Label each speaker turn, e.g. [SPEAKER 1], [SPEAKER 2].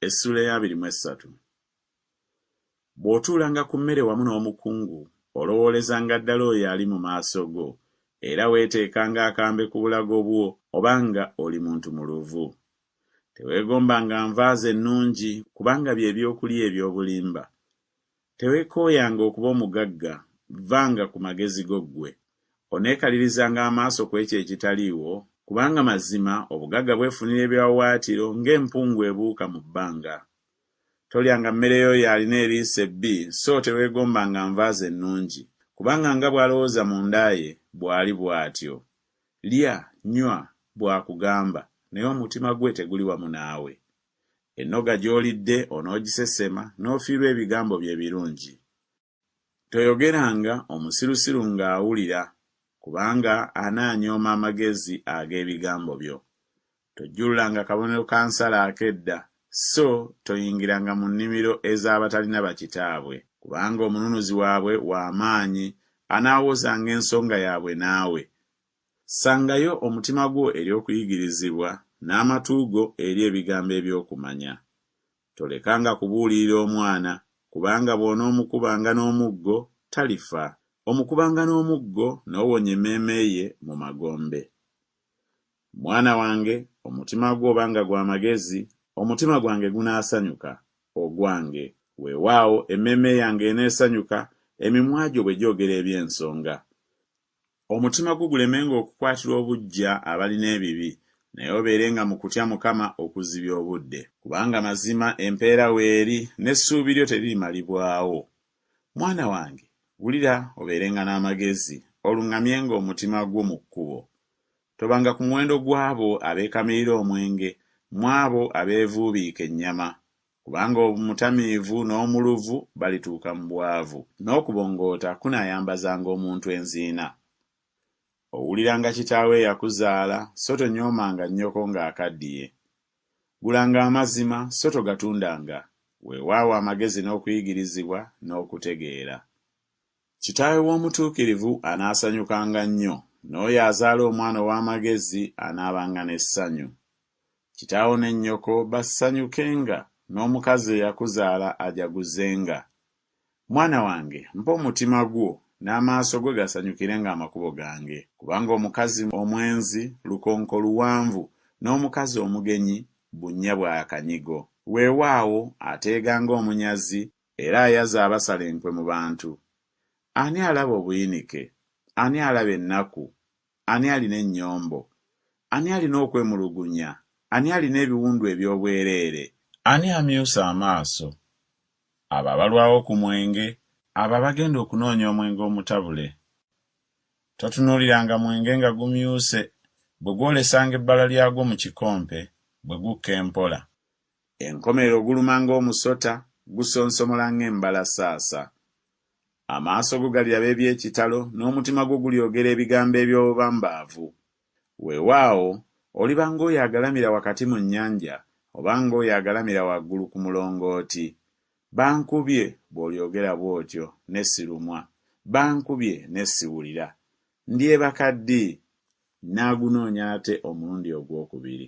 [SPEAKER 1] Essuula ey'abiri mu essatu. Bw'otuulanga ku mmere wamu n'omukungu, olowoolezanga ddala oyo ali mu maaso go, era weeteekanga akambe ku bulago bwo oba nga oli muntu muluvu. Teweegombanga nva ze nnungi, kubanga bye by'okulya eby'obulimba. Tewekooyanga okuba omugagga, vvanga ku magezi go ggwe. Oneekalirizanga amaaso ku ekyo ekitaliiwo? Kubanga mazima obugagga bwefunira ebiwawaatiro ng'empungu ebuuka mu bbanga. Tolyanga mmere y'oyo alina eriiso ebbi, so teweegombanga nva ze nnungi, kubanga nga bw'alowooza munda ye, bw'ali bw'atyo. Lya, nywa, bw'akugamba, naye omutima gwe teguli wamu naawe. Ennoga gy'olidde onoogisesema n'ofiirwa ebigambo bye ebirungi. Toyogeranga omusirusiru ng'awulira, kubanga anaanyooma amagezi ag'ebigambo byo. Tojjululanga kabonero ka nsala ak'edda, sso toyingiranga mu nnimiro ez'abatalina bakitaabwe. Kubanga omununuzi waabwe wa maanyi, anaawozanga ensonga yaabwe naawe, Ssangayo omutima gwo eri okuyigirizibwa, n'amatu go eri ebigambo eby'okumanya. Tolekanga kubuulirira omwana, kubanga bw'onoomukubanga n'omuggo, talifa, omukubanga n'omuggo, n'owonya emmeeme ye mu magombe. Mwana wange, omutima gwo oba nga gwa magezi, omutima gwange gunaasanyuka, ogwange, weewaawo, emmeeme yange eneesanyuka, emimwa gyo bwe gyogera eby'ensonga. Omutima gwo gulemenga okukwatirwa obuggya abalina ebibi, naye obeerenga mu kutya Mukama okuzibya obudde. Kubanga mazima empeera weeri, n'essuubi lyo teririmalibwawo. Mwana wange, wulira obeerenga n'amagezi, oluŋŋamyenga omutima gwo mu kkubo. Tobanga ku muwendo gw'abo abeekamirira omwenge, mw'abo abeevuubiika ennyama, Kubanga omutamiivu n'omuluvu balituuka mu bwavu, n'okubongoota kunaayambazanga omuntu enziina. Owuliranga kitaawo eyakuzaala, so tonyoomanga nnyoko ng'akaddiye. Gulanga amazima, so togatundanga, weewaawo amagezi n'okuyigirizibwa, n'okutegeera. Kitaawe w'omutuukirivu anaasanyukanga nnyo, n'oyo azaala omwana ow'amagezi anaabanga n'essanyu. Kitaawo ne nnyoko basanyukenga, n'omukazi eyakuzaala ajaguzenga. Mwana wange, mpa omutima gwo, n'amaaso go gasanyukirenga amakubo gange. Kubanga omukazi omwenzi lukonko luwanvu, n'omukazi omugenyi bunnya bwa kanyigo. Weewaawo, ateega ng'omunyazi, era ayaza abasala enkwe mu bantu. Ani alaba obuyinike? Ani alaba ennaku? Ani alina ennyombo? Ani alina okwemulugunya? Ani alina ebiwundu eby'obwereere? Ani amyusa amaaso? Abo abalwawo ku mwenge. Abo abagenda okunoonya omwenge omutabule. Totunuuliranga mwenge nga gumyuse, bwe gwolesanga ebbala lyagwo mu kikompe, bwe gukka empola. Enkomerero guluma ng'omusota, gusonsomola ng'embalasaasa. Amaaso go galiraba eby'ekitalo, n'omutima gwo gulyogera ebigambo eby'obubambaavu. Weewaawo, oliba ng'oyo agalamira wakati mu nnyanja, oba ng'oyo agalamira waggulu ku mulongooti. Bankubye, bw'olyogera bw'otyo, ne sirumwa. Bankubye, ne siwulira. Ndyebaka ddi? Nnaagunoonya ate omulundi ogw'okubiri.